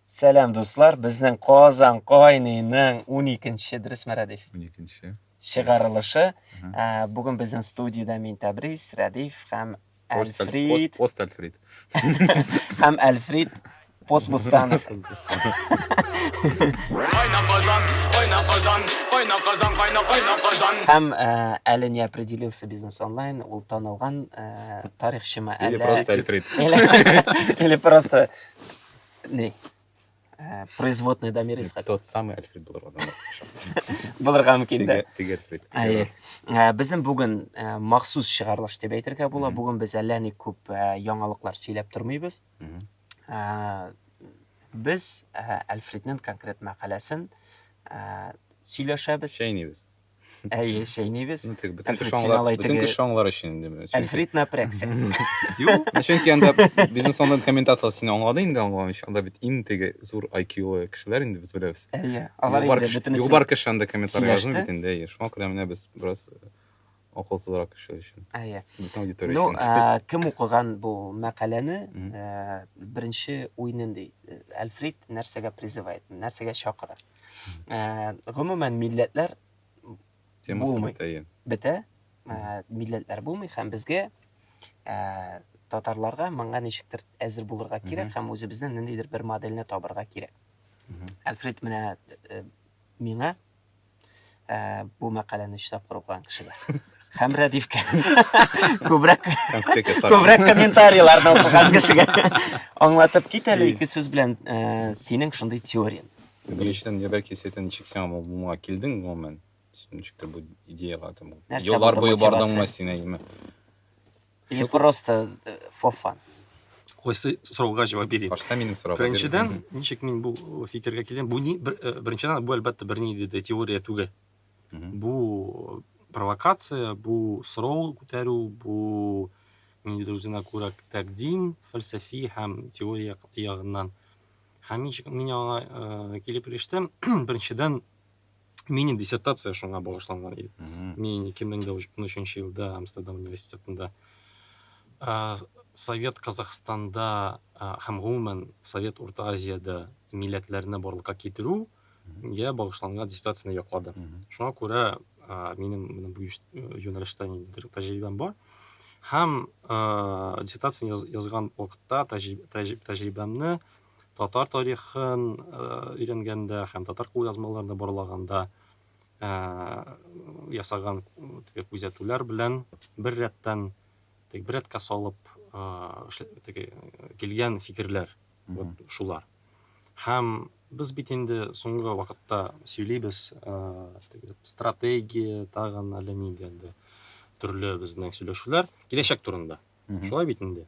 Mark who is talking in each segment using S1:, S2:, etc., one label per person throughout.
S1: Сәлам дуслар, безнең Казан кайныйның уникенче дөрес Мәрәдиф? Уникенче.
S2: Чыгарылышы.
S1: Ә, Бүген безнең студиядә мин Тәбрис, Рәдиф һәм Әлфрид. Пост Әлфрид. Һәм Әлфрид Пост Бустанов. Кайна Казан, кайна Казан, кайна Казан, кайна кайна Казан. Һәм әле не определился бизнес онлайн, ул танылган тарихчымы әллә? Или просто Әлфрид.
S2: Или
S1: просто Ней. Э, производный дамир исхак тот самый альфред булырга
S2: да булырга
S1: мөмкин да теге альфред әйе
S2: э, безнең
S1: бүген э, махсус чыгарылыш дип әйтергә була бүген без әллә ни күп яңалыклар сөйләп тормыйбыз без альфреднең конкрет мәкаләсен сөйләшәбез чәйнибез
S2: Әйе, чәйнибез.
S1: Ну, тик бөтен Әлфред, кеше син
S2: аңлар, алай бөтен теге- кеше аңлар өчен инде. Чөнки- Әлфрид напрягся.
S1: Юк,
S2: чөнки анда бизнес онлайн комментатор сине аңлады инде аңламыйча. Анда бит иң теге зур IQ-лы кешеләр инде без беләбез. Әйе, алар Югары инде кеше-
S1: бөтенесе. Югары кеше анда комментарий
S2: сөйләште. язмый бит инде. әйе. Шуңа күрә менә без бераз э, акылсызрак кеше өчен. Әйе. Безнең аудитория Ну, өчен. ә, кем укыган бу
S1: мәкаләне, Мгм. ә, беренче уй нинди? Әлфрид нәрсәгә призывает, нәрсәгә чакыра? Ә, гомумән милләтләр темасы
S2: булмый. бетә иә бетә
S1: ә, милләтләр булмый һәм безгә ә, татарларга моңа ничектер әзер булырга кирәк һәм үзебезнең ниндидер бер модельне табырга кирәк Мгм. альфред менә э, миңа ә, бу мәкаләне өч тапкыр укыган кеше бар. Һәм Рәдифкә күбрәк күбрәк комментарийларны укыган кешегә аңлатып кит әле ике сүз белән ә, синең шундый теорияң. Ни өчен небә
S2: кисәтен ничек сиңа моңа килдең гомумән? Ничектер бу идеяга там. Нәрсә Еллар булды буе мотивация? бардыңмы син әйме?
S1: Или просто э, for fun. Кайсы
S3: сорауга җавап бирим? Башта минем сорауга Беренчедән,
S2: бирдем. ничек мин
S3: бу фикергә килдем? Бу ни бер, э, беренчедән бу әлбәттә бер ни диде теория түгел. Мгм. Бу провокация, бу сорау күтәрү, бу ниндидер үзенә күрә тәкъдим, фәлсәфи һәм теория ягыннан. Һәм ничек мин аңа э, килеп ирештем? Беренчедән, Минем диссертация шуңа багышланган иде. Мин 2013 елда Амстердам университетында Совет Казахстанда һәм гомумән Совет Урта Азиядә милләтләрне барлыкка китерү я багышланган диссертацияне яклады. Шуңа күрә минем менә бу юнәлештә ниндидер тәҗрибәм бар. Һәм диссертацияне язган вакытта тәҗрибәмне татар тарихын өйрәнгәндә һәм татар кулъязмаларында борлаганда ясаган теге күзәтүләр белән бер рәттән теге бер рәткә салып теге килгән фикерләр вот шулар һәм без бит инде соңгы вакытта сөйлибез стратегия тагын әллә нинди инде төрле безнең сөйләшүләр киләчәк турында шулай бит инде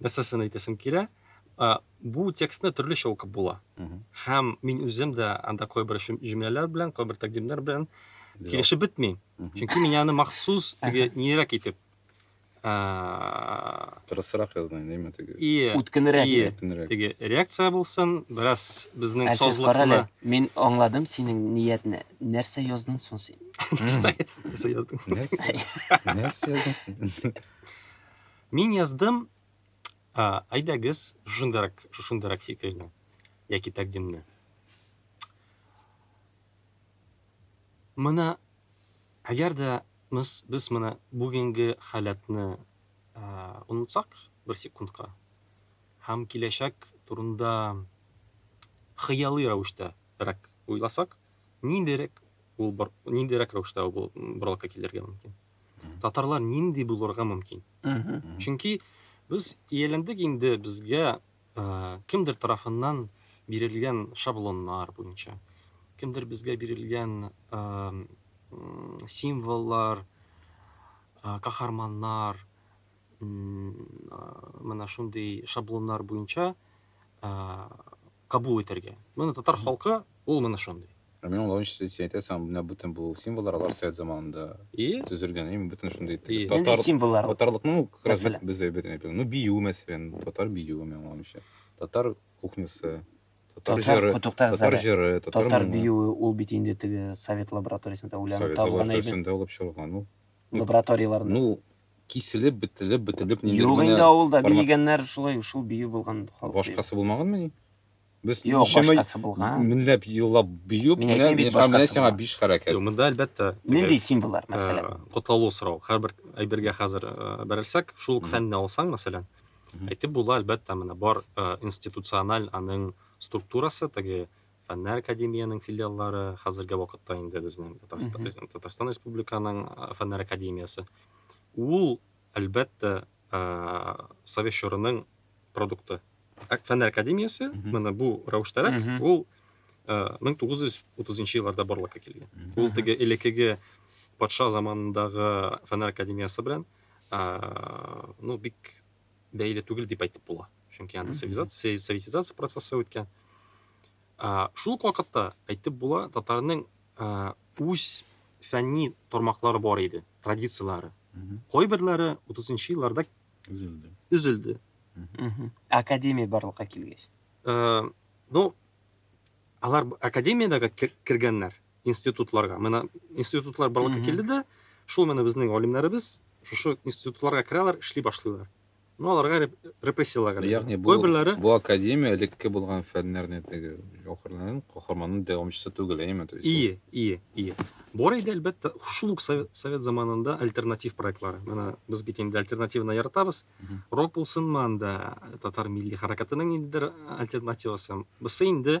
S3: нәрсәсен әйтәсем килә, бу текстны төрлечә укып була. Һәм мин үзем дә анда кайбер җөмләләр белән, кайбер тәкъдимнәр белән килешеп бетми. Чөнки мин аны махсус теге нирәк итеп
S2: Тырысрак язды, нәйме теге. Ие. Үткенрәк. Ие.
S1: Теге
S3: реакция булсын, бераз безнең созлыкны. Мин
S1: аңладым синең ниятне. Нәрсә яздың соң син? Нәрсә
S3: яздың? Нәрсә
S2: яздың син?
S3: Мин яздым, ә, әйдәгез, шушындырак, шушындырак фикерне, яки тәкъдимне. Моны, әгәр дә без, без моны бүгенге халәтне ә, онытсак бер секундка, һәм киләчәк турында хыялый рәвештә рәк уйласак, ниндирәк ул, ниндирәк рәвештә ул боралка килергә мөмкин. Татарлар нинди булырга мөмкин? Чөнки без ияләндек инде безгә кемдер тарафыннан бирелгән шаблоннар буенча, кемдер безгә бирелгән символлар, каһарманнар, менә шундый шаблоннар буенча кабул итәргә. Менә татар халкы ул менә шундый. Ә
S2: мин аңлавым өчен син әйтәсең, менә бөтен бу символлар алар совет заманында төзелгән, әйме, бөтен шундый татар символлар.
S1: Татарлыкның ну, как раз
S2: без әйбәт әйбәт. Ну,
S1: бию
S2: мәсәлән, татар биюе мин аңлавым өчен. Татар кухнясы, татар җыры, татар җыры, татар
S1: биюе ул бит инде теге совет лабораториясендә уйланып табылган әйбәт. Совет лабораториясендә алып чыгылган ул.
S2: Лабораторияләрдә. Ну, киселеп, бетелеп, бөтелеп ниндидер Юк генә инде авылда
S1: формат- биегәннәр шулай шул бию булган халык. Башкасы булмагынмы ни?
S2: Без Юк, ничәмә башкасы
S1: булган. меңләп еллап
S2: бию, Мин әйтмим бит, а менә башкасы сиңа
S1: булган. биш
S2: хәрәкәт. Юк, монда әлбәттә. теге,
S3: Нинди символлар, э,
S1: мәсәлән? Котлаулы сорау. Һәрбер
S3: әйбергә хәзер э, бәрелсәк, шул ук Мгм. фәнне алсаң, мәсәлән, Мгм. әйтеп була, әлбәттә, менә бар э, институциональ аның структурасы, теге Фәннәр академиянең филиаллары хәзерге вакытта инде безнең Татарстан Республиканың Фәннәр академиясе. Ул, әлбәттә, Совет чорының продукты. Фәннәр академиясе, менә бу рәвештәрәк, ул 1930 елларда барлыкка килгән. Ул теге элекеге патша заманындагы Фәннәр академиясе белән, ну, бик бәйле түгел дип әйтеп була. Чөнки анда цивилизация, советизация процессы үткән. Шул ук вакытта әйтеп була, татарның үз фәнни тармаклары бар иде, традицияләре. Кайберләре 30-нчы елларда үзелде. Үзелде.
S1: Академия барлыкка килгәч.
S3: Ну, алар академиядәге кергәннәр. институтларга. Менә институтлар барлыкка килде дә, шул менә безнең галимнәребез шушы институтларга керәләр, эшли башлыйлар. Ну, аларга репрессияләр генә. Ягъни бу, Кайберләре...
S2: бу академия элекке булган фәннәрне теге җәүһәрләрнең каһарманның дәвамчысы түгел, әйеме? То есть Ие, ие, ие.
S3: Бар иде, әлбәттә, шул ук совет, совет заманында альтернатив проектлары. Менә без бит инде альтернативны яратабыз. Рок булсынмы анда, татар милли хәрәкәтенең ниндидер альтернативасы. Бусы инде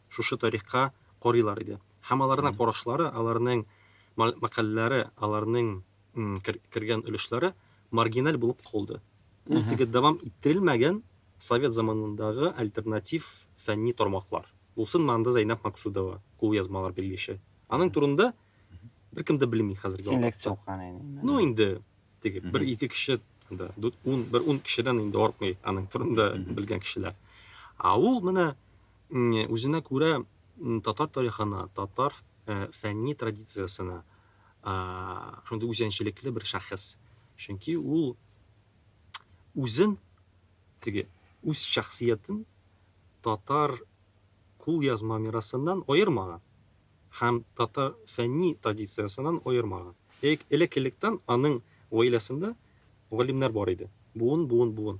S3: шушы тарихка карыйлар иде. Һәм аларның карашлары, аларның мәкаләләре, аларның кергән өлешләре маргиналь булып калды. Ул теге дәвам иттерелмәгән совет заманындагы альтернатив фәнни тармаклар. Булсын монда Зәйнәб Максудова, кулъязмалар белгече. Аның турында беркем дә белми хәзерге вакытта. Селекция укыган инде.
S1: Ну инде
S3: теге бер-ике кеше да, бер ун кешедән инде артмый аның турында белгән кешеләр. Ә ул менә Үзенә күрә татар тарихына, татар фәнни традициясенә шундый үзенчәлекле бер шәхес. Чөнки ул үзен, теге үз шәхсиятен татар кулъязма мирасыннан аермаган. һәм татар фәнни традициясеннән аермаган. Элек, элек-электән аның гаиләсендә галимнәр бар иде. Буын, буын, буын.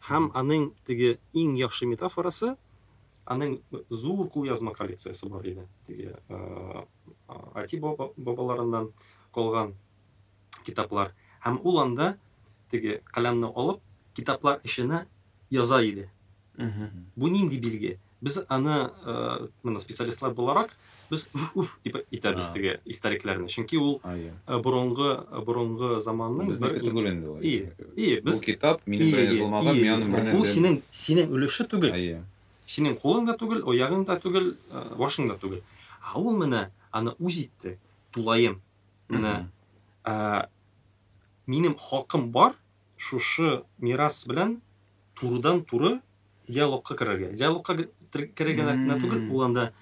S3: Һәм аның теге иң яхшы метафорасы, аның зур кулъязма коллекциясе бар иде, теге әти-бабаларыннан калган китаплар. Һәм ул анда теге каләмне алып, китаплар эченә яза иде. Бу нинди билге? Без аны, э, менә специалистлар буларак, без уф-уф дип итәбез А. теге истәлекләрне. Чөнки ул А, я. э, борынгы борынгы заманның бер Безнеке түгел инде ул.
S2: И, и, Бу без китап минем
S3: белән Ие,
S2: язылмаган, ие, мин аның белән Бу дә- синең синең
S3: өлеше түгел. А, я. Синең кулың да түгел, оягың да түгел, э, башың да түгел. А ул менә аны үз итте, тулаем. Менә Мгм. ә, минем хакым бар, шушы мирас белән турыдан-туры диалогка керергә. Диалогка керергә генә түгел, ул анда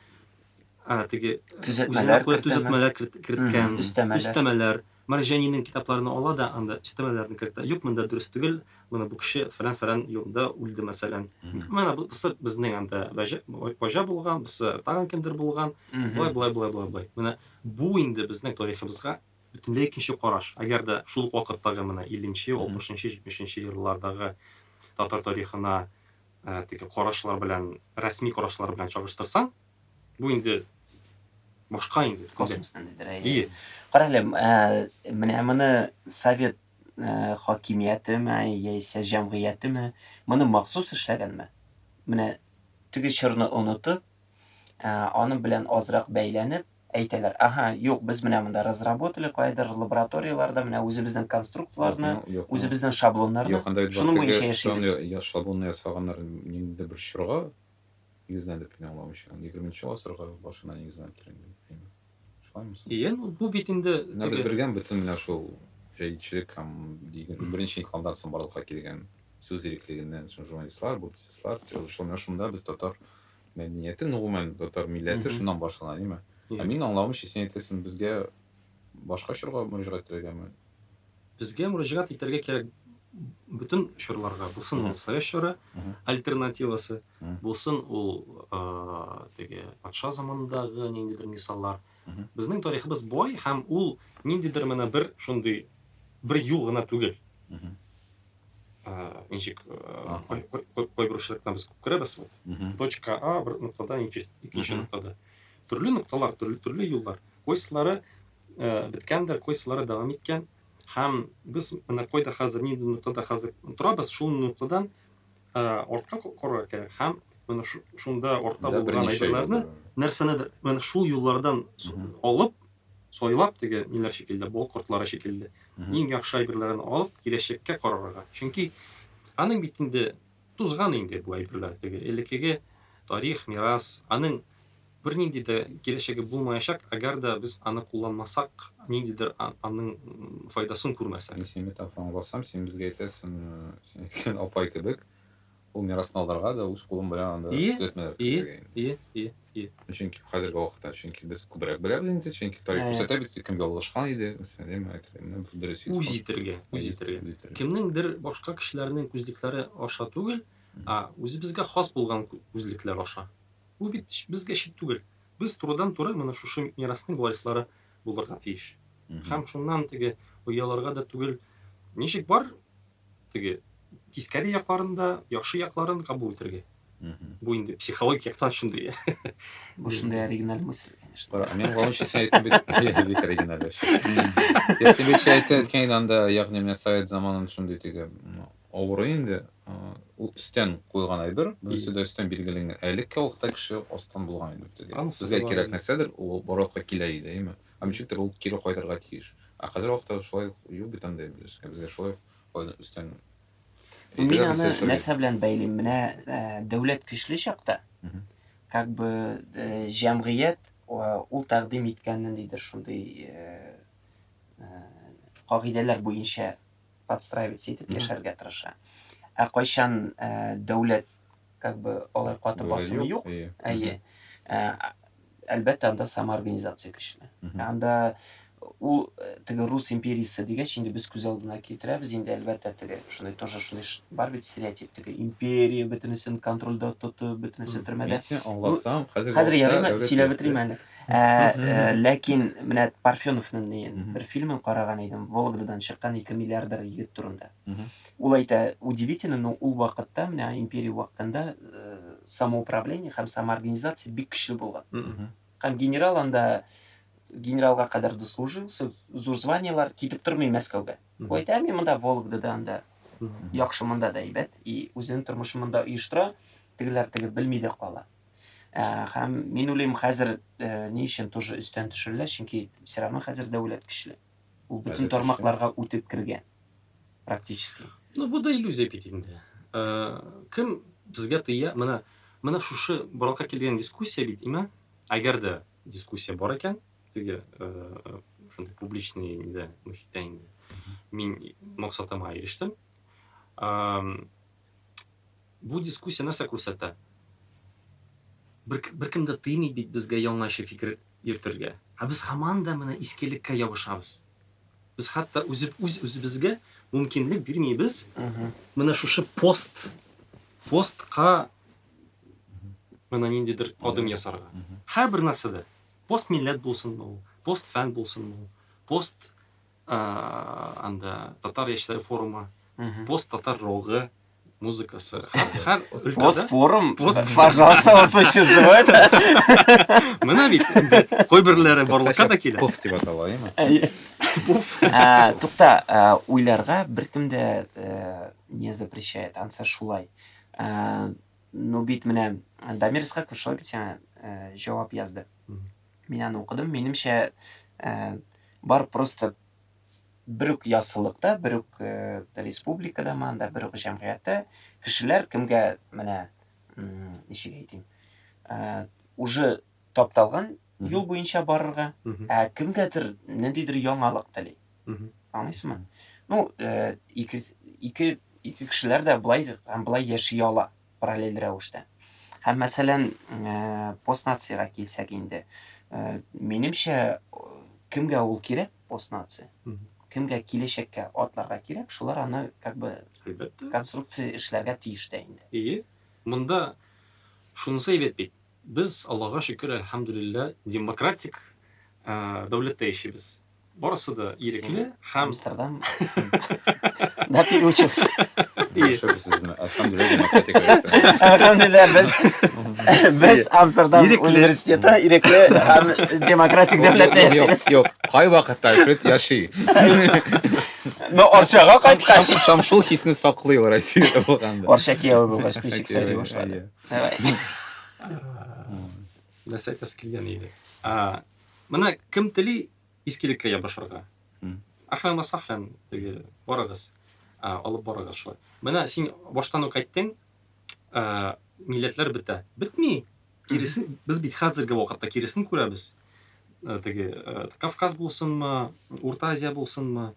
S3: теге үзенә күрә төзәтмәләр керткән, өстәмәләр. Марҗанинең китапларына ала да анда өстәмәләрне кертә. Юк, монда дөрес түгел, моны бу кеше фәлән-фәлән елында үлде, мәсәлән. Менә бу безнең анда баҗа булган, бусы тагын кемдер булган, болай, болай, болай, болай, болай. Менә бу инде безнең тарихыбызга Бөтенләй икенче караш. Әгәр дә шул ук вакыттагы менә илленче, алпышынчы, җитмешенче еллардагы татар тарихына теге карашлар белән, рәсми карашлар белән чагыштырсаң, бу инде башка инде. Космос ниндидер, әйе. Әйе.
S1: Кара әле, менә моны совет хакимиятеме яисә җәмгыятеме моны махсус эшләгәнме? Менә теге чорны онытып, аның белән азрак бәйләнеп, Әйтәләр, аһа, юк, без менә монда разработали, каядыр лабораторияләрдә менә үзебезнең конструктларны, Юк, юк, үзебезнең шаблоннарны, Юк, анда бит шуның бар буенча теге яшибез. шаблон я- я- шаблонны ясаганнар
S2: ниндидер бер чорга нигезләнеп кенә аңламыйча. Егерменче гасырга башына нигезләнептер инде. әйме. Шулаймы
S3: соң? Ие, ну, бу бит инде Менә без теге белгән бөтен менә
S2: шул җәдитчелек һәм егерме беренче инкыйлабдан соң барлыкка килгән сүз иреклегеннән соң журналистлар, публицистлар, тележурналистлар, менә шунда без татар Мәдәнияте, гомумән, татар милләте шуннан башлана, димме? Ә минем аңлавымча, син әйтәсең, безгә башка чорга мөрәҗәгать итәргәме? Безгә
S3: мөрәҗәгать итәргә кирәк бөтен чорларга, булсын ул совет чоры, альтернативасы, булсын ул теге патша заманындагы ниндидер мисаллар, Безнең тарихыбыз бай һәм ул ниндидер менә бер шундый бер юл гына түгел. Ничек кайбер очракта без күп керәбез вот. Точка А бер ноктадан икенче ноктада. Төрле нокталар, төрле төрле юллар. Кайсылары беткәндер, кайсылары дәвам иткән. Һәм без менә кайда хәзер, нинди ноктада хәзер торабыз, шул ноктадан Ә, артка коры икән һәм менә шунда артта булган әйберләрне нәрсәнедер менә шул юллардан алып, сайлап теге ниләр шикелле, бал кортлары шикелле, иң яхшы әйберләрен алып, киләчәккә карарга. Чөнки аның бит инде тузган инде бу әйберләр теге элеккеге тарих, мирас, аның Бернинди дә киләчәге булмаячак, әгәр дә без аны кулланмасак, ниндидер аның файдасын күрмәсәк. Мин синең метафораңны аңласам,
S2: син безгә әйтәсең, син әйткән апай кебек, ул мирасны алырга да үз кулың белән анда төзәтмәләр кертергә инде. Ие, ие, ие, ие. Чөнки хәзерге вакытта, чөнки без күбрәк беләбез инде, чөнки тарих күрсәтә бит, кем ялгышкан иде, мәсәлән, ди, миңа әйтергә, менә бу дөрес иде. Үз итергә, үз
S3: итергә. Кемнеңдер башка кешеләрнең күзлекләре аша түгел, ә үзебезгә хас булган күзлекләр аша. Ул бит безгә чит түгел. Без турыдан-туры менә шушы мирасның варислары булырга тиеш. Һәм шуннан теге ояларга да түгел, ничек бар, теге тискәре якларын да, яхшы якларын кабул итәргә. Бу инде психологик яктан шундый. Бу шундый
S1: оригиналь мысль, конечно. Кара, мин гомум өчен син әйттең
S2: бит, бик оригиналь эш. Син бит әйткән идең анда, ягъни менә совет заманын шундый теге, ну, Авыру инде ул өстән куйган әйбер, берсе дә өстән билгеләнгән. Элекке вакытта кеше астан булган иде бу теге. Сезгә кирәк нәрсәдер, ул барлыкка килә иде, әйме? Һәм ничектер ул кире кайтырга тиеш. Ә хәзер вакытта шулай ук юк бит андый әйбер өскә. Безгә шулай ук кайдан өстән.
S1: Мин аны нәрсә белән бәйлим? Менә дәүләт көчле чакта, как бы җәмгыять ул тәкъдим иткән ниндидер шундый кагыйдәләр буенча подстраиваться итеп яшәргә тырыша. Ә кайчан дәүләт как бы алай каты басымы юк. Әйе. Әлбәттә, анда самоорганизация көчле. Анда ул э, теге рус империясы дигәч инде без күз алдына китерәбез инде әлбәттә теге шундай тоже шундай бар бит стереотип теге империя бөтенесен контрольдә тотып бөтенесе төрмәдә мин сине аңласам
S2: хәзер хәзер ярыймы
S1: сөйләп бетерим әле Ә, ә, ләкин менә Парфеновның ни, бер фильмын караган идем, Вологдадан чыккан ике миллиардер егет турында. Ул әйтә, удивительно, но ул вакытта, менә империя вакытында э, самоуправление һәм самоорганизация бик көчле булган. Һәм генерал анда генералга кадәр дослужил, зур званиелар китеп тормый Мәскәүгә. Ул әйтә, мин монда Вологдада анда яхшы монда да әйбәт, и үзенең тормышын монда оештыра, тегеләр теге белми дә кала. Һәм мин уйлыйм, хәзер ни өчен тоже өстән төшерелә, чөнки все равно хәзер дәүләт көчле. Ул бөтен тармакларга үтеп кергән. Практически. Ну, бу да
S3: иллюзия бит инде. Кем безгә тыя? Менә менә шушы барлыкка килгән дискуссия бит, имә, әгәр дә дискуссия бар икән, теге шундый публичный инде, мөхиттә инде. Мин максатыма ирештем. Бу дискуссия нәрсә күрсәтә? Бер, беркем дә тыймый бит безгә яңача фикер йөртергә. Ә без һаман да менә искелеккә ябышабыз. Без хәтта үз үзебезгә мөмкинлек бирмибез. Менә шушы пост постка менә ниндидер адым ясарга. Һәрбер нәрсәдә. Пост милләт булсынмы ул, пост фән булсынмы ул, пост анда татар яшьләре форумы пост татар рогы музыкасы һәр
S1: пост форум пожалуйста осы существует
S3: мына бит кайберләре барлыкка да килә пуф дип атала
S2: тукта
S1: уйларга беркем дә э, не запрещает анса шулай ну бит менә дамир исхаков шулай бит сиңа э, җавап язды Мин аны укыдым. Минемчә, ә, бар просто бер үк яссылыкта, бер үк ә, республикада манда, бер үк җәмгыятьтә кешеләр кемгә менә ничек әйтим, ә, уже тапталган юл буенча барырга, ә кемгәдер ниндидер яңалык тели. Аңлыйсызмы? Ну, ә, ике ике ике кешеләр дә былай һәм былай яши ала. параллель рәвештә. Һәм, мәсәлән, постнациягә килсәк инде, минемчә, кемгә ул кирәк, постнация? Кемгә киләчәккә атларга кирәк, шулар аны как бы конструкция эшләргә тиеш тә инде. Әйе. Монда
S3: шунысы әйбәт бит, Без, Аллага шөкер, әлхәмдүлилләһ, демократик дәүләттә яшибез. Барысы да ирекле һәм Амстердам.
S1: Да переучился. Шөкер сезне, әлхәмдүлилләһ, демократик дәүләттә. Әлхәмдүлилләһ, без без Амстердам университеты ирекле һәм демократик дәүләттә яшибез. Юк, кайвакытта
S2: Альфред яши.
S1: Но Арчага кайткач, һәм шул хисне
S2: саклый ул Россиядә булганда. Арча кияү булгач,
S1: ничек сөйли башлады?
S3: Нәрсә килгән иде. Менә кем тели искилеккә ябышырга? Ахран ва сахран теге барыгыз. Алып барыгыз шулай. Менә син баштан ук әйттең, милләтләр бетә. Бетми. Киресен, без бит хәзерге вакытта киресен күрәбез. Теге Кавказ булсынмы, Урта Азия булсынмы,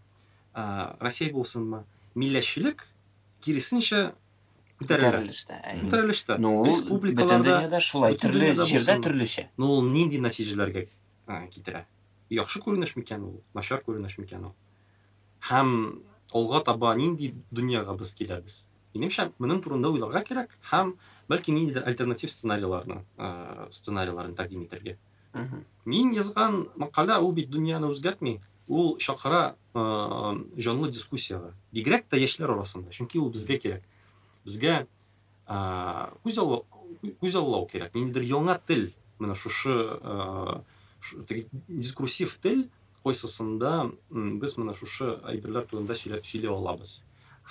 S3: Россия булсынмы, милләтчелек киресенчә күтәрелештә күтәрелештә республикаларда
S1: төрле җирдә төрлечә но ул нинди
S3: нәтиҗәләргә китерә яхшы күренеш микән ул начар күренеш микән ул һәм алга таба нинди дөньяга без киләбез минемчә моның турында уйларга кирәк һәм бәлки ниндидер альтернатив сценарийларны сценарийларын тәкъдим итәргә Мин язган макалә ул бит дөньяны үзгәртми, ул чакыра җанлы дискуссиягә. Бигрәк тә яшьләр арасында, чөнки ул безгә кирәк. Безгә күз алу, күз алу кирәк. Ниндидер яңа тел, менә шушы дискурсив тел, койсысында без менә шушы әйберләр турында сөйли алабыз.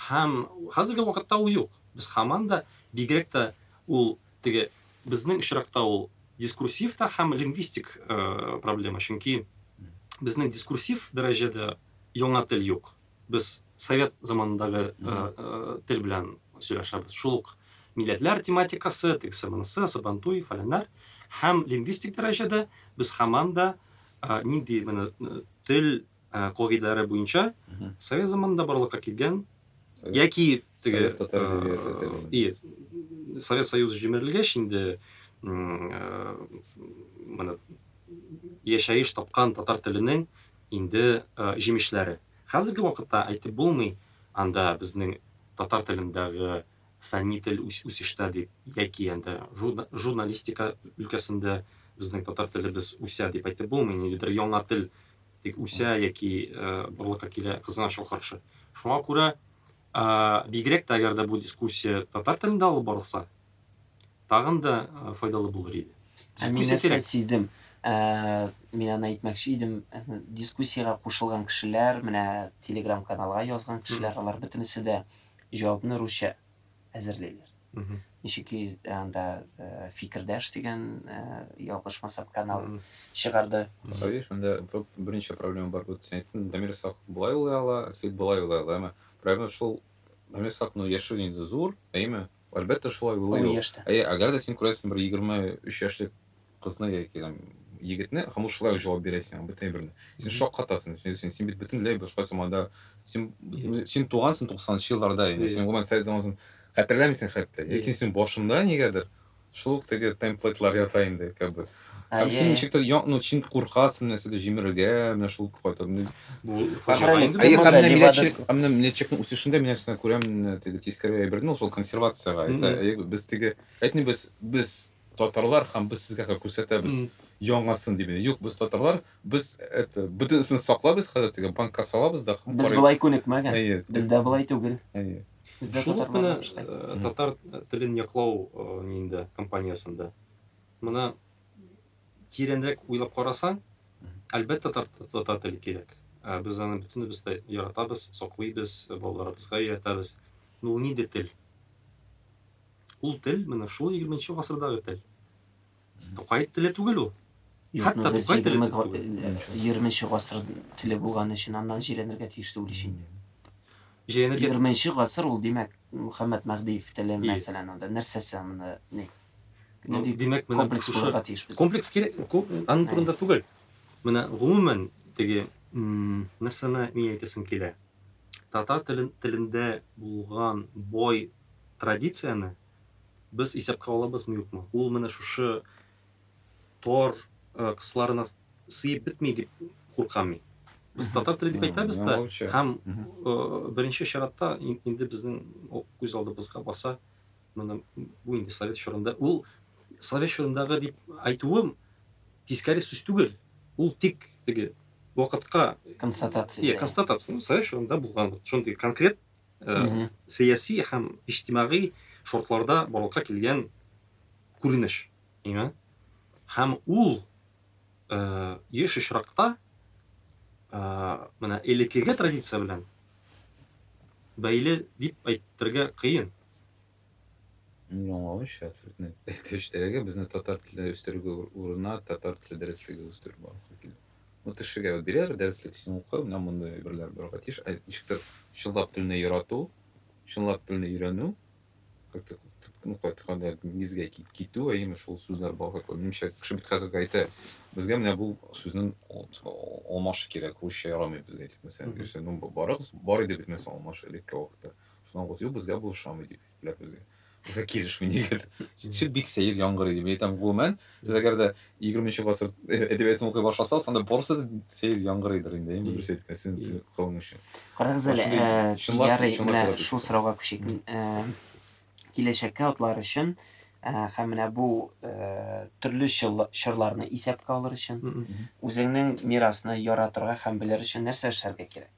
S3: Һәм хәзерге вакытта ул юк. Без хаманда бигрәк тә ул Теге, безнең очракта ул дискурсив та һәм лингвистик проблема, чөнки безнең дискурсив дәрәҗәдә яңа тел юк. Без совет заманындагы тел белән сөйләшәбез. Шул ук милләтләр тематикасы, тегесе, монысы, сабантуй, фәләннәр. Һәм лингвистик дәрәҗәдә без һаман да нинди тел кагыйдәләре буенча совет заманында барлыкка килгән яки теге совет союзы җимерелгәч инде моны яшәеш тапкан татар теленең инде җимешләре хәзерге вакытта әйтеп булмый анда безнең татар телендәге фәнни тел үсештә дип яки анда журналистика өлкәсендә безнең татар телебез үсә дип әйтеп булмый нигәдер яңа тел тик үсә яки барлыкка килә кызына шул каршы. Шуңа күрә бигрәк тә әгәр дә бу дискуссия татар телендә алып барылса, тагын да файдалы булыр иде. Ә мин нәрсә
S1: сиздем? Мин аны әйтмәкче идем, дискуссиягә кушылган кешеләр, менә телеграм-каналга язган кешеләр, алар бөтенесе дә җавапны русча әзерлиләр. Ничек ки анда Фикердәш дигән, ялгышмасам, канал чыгарды. Савиш, монда
S2: берничә проблема бар. Вот син әйттең, Дамир Исхаков болай уйлый ала, Фит болай уйлый ала, әмма проблема шул, Дамир Исхаковның яше инде зур, әйеме? Әлбәттә, шулай уйлый ул. Әйе, әгәр дә син күрәсең, бер егерме өч яшьлек Кызны яки там егетне һәм ул шулай җавап бирә сиңа бөтен әйберне. Син шаккатасың, син, син бит бөтенләй башка сумада, син, син тугансың 90-нчы елларда, инде син гомумән совет заманасын хәтерләмисең хәтта. Ләкин син башында нигәдер шул ук теге темплейтлар ята инде, как бы. Һәм син ничек тә, ну, син куркасың нәрсәдә җимерергә, менә шул кайта. Бу фашизм инде. Әйе, һәм милләтчелек, һәм милләтчелекнең үсешендә мин нәрсәне күрәм, теге тискәре әйберне, ул шул консервацияга. Әйе, без теге, әйтми без, без Татарлар һәм без сезгә ка күрсәтәбез яңасын дип инде. Юк, без татарлар, без это, бөтенесен саклабыз, хәзер теге банкка салабыз да һәм Без болай күнекмәгән.
S1: Әйе. Бездә болай түгел. Әйе. Бездә Шул ук менә
S3: э, татар телен яклау э, ниендә компаниясендә. Моны тирәнрәк уйлап карасаң, әлбәттә татар, татар теле кирәк. Ә без аны бөтенебез дә яратабыз, саклыйбыз, балаларыбызга өйрәтәбез. Ну, нинди тел? Ул тел менә шул егерменче гасырдагы тел. Тукай теле түгел ул. Хәтта Тукай теле түгел. Егерменче
S1: гасыр теле булган өчен аннан җирәнергә тиеш түгел ич инде. Җирәнергә...
S3: Егерменче гасыр
S1: ул, димәк, Мөхәммәд Мәһдиев теле, мәсәлән, анда нәрсәсе анда, ни? Ну, димәк,
S3: менә комплекс булырга тиеш без.
S1: Комплекс
S3: кирәк, аның турында түгел. Менә гомумән теге нәрсәне мин әйтәсем килә. Татар телендә булган бай традицияне без исәпкә алабызмы-юкмы? Ул менә шушы тор кысаларына сыеп бетми дип куркам мин. Без татар теле дип әйтәбез дә, һәм беренче чиратта инде безнең күз алдыбызга баса менә бу инде совет чорында. Ул совет чорындагы дип әйтүем тискәре сүз түгел. Ул тик теге вакытка констатация. Иә,
S1: констатация. Совет
S3: чорында булган шундый конкрет сәяси һәм иҗтимагый шартларда барлыкка килгән күренеш име, һәм ул еш очракта менә элекеге традиция белән бәйле дип әйтергә кыен. Мин
S2: аңлаганча, абсолютно тел эчтәлеге безне татар теле үстерүгә урына татар теле дәреслеге үстерү барысы килә. Ну, кешегә вот бирәләр дәреслек, син укы, менә мондый әйберләр барга тиеш. Ә ничектер чынлап телне ярату, чынлап телне өйрәнү, как-то ну, кайтканда нигезгә китү, әйеме шул сүзләр барга кирәк. Минемчә, кеше бит хәзер әйтә, безгә менә бу сүзнең алмашы кирәк, русча ярамый безгә дип, мәсәлән, mm -hmm. ну, барыгыз, бар иде бит мәсәлән алмашы элекке вакытта. Шуннан кыз, юк, безгә булышамый, дип, ләп безгә. Безгә килешми, нигә? Чит бик сәер яңгыр иде. Мин әйтәм, гомумән, сез әгәр дә 20 нче гасыр әдәбиятын укый башласагыз, анда барысы да сәер яңгыр иде инде, инде дөрес әйткән, син кылың өчен. Карагыз әле,
S1: ярый, менә шул сорауга күчик. Киләчәккә атлар өчен һәм менә бу төрле чорларны исәпкә алыр өчен, үзеңнең мирасны яратырга һәм белер өчен нәрсә эшләргә кирәк?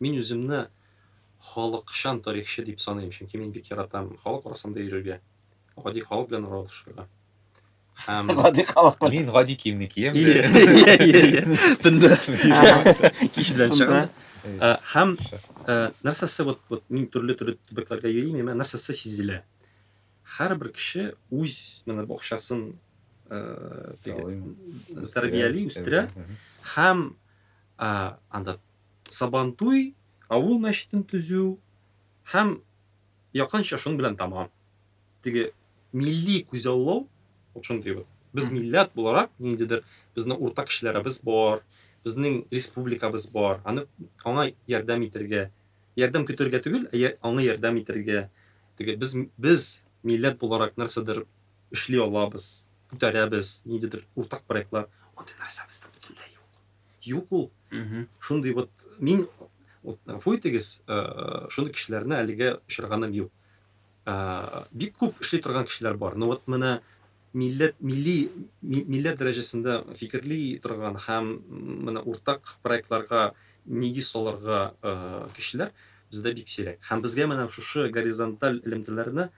S3: Мин үземне халыкчан тарихчы дип саныйм, чөнки мин бик яратам халык арасында йөрергә, гади халык белән аралашырга. Һәм Гади халык белән.
S1: Мин гади киемне
S2: киям. Ие, ие, ие, ие. Төнлә.
S3: Кич белән Шунда. чыгам. Ә, Һәм ә, нәрсәсе вот, вот мин төрле төрле төбәкләргә йөрим, миңа нәрсәсе сизелә. Һәрбер кеше үз менә бакчасын ә, теге, Талыймы? тәрбияли, үстерә һәм ә, анда Сабантуй авыл мәчетен төзү һәм якынча шуның белән тәмам. Теге милли күзаллау, вот шундый вот. Без милләт буларак, ниндидер безнең уртак кешеләребез бар, безнең республикабыз бар, аны, аңа ярдәм итәргә, ярдәм көтәргә түгел, ә аңа ярдәм итәргә, теге без, без милләт буларак нәрсәдер эшли алабыз, күтәрәбез, ниндидер уртак проектлар, андый нәрсәбез дә бөтенләй юк. Юк ул. Шундый вот мин вот фуйтегез шундый кешеләрне әлегә очырганым юк. Бик күп эшли торган кешеләр бар. Но вот менә милләт милли милләт дәрәҗәсендә фикерли торган һәм менә уртак проектларга нигез салырга кешеләр бездә бик сирәк. Һәм безгә менә шушы горизонталь элемтәләрне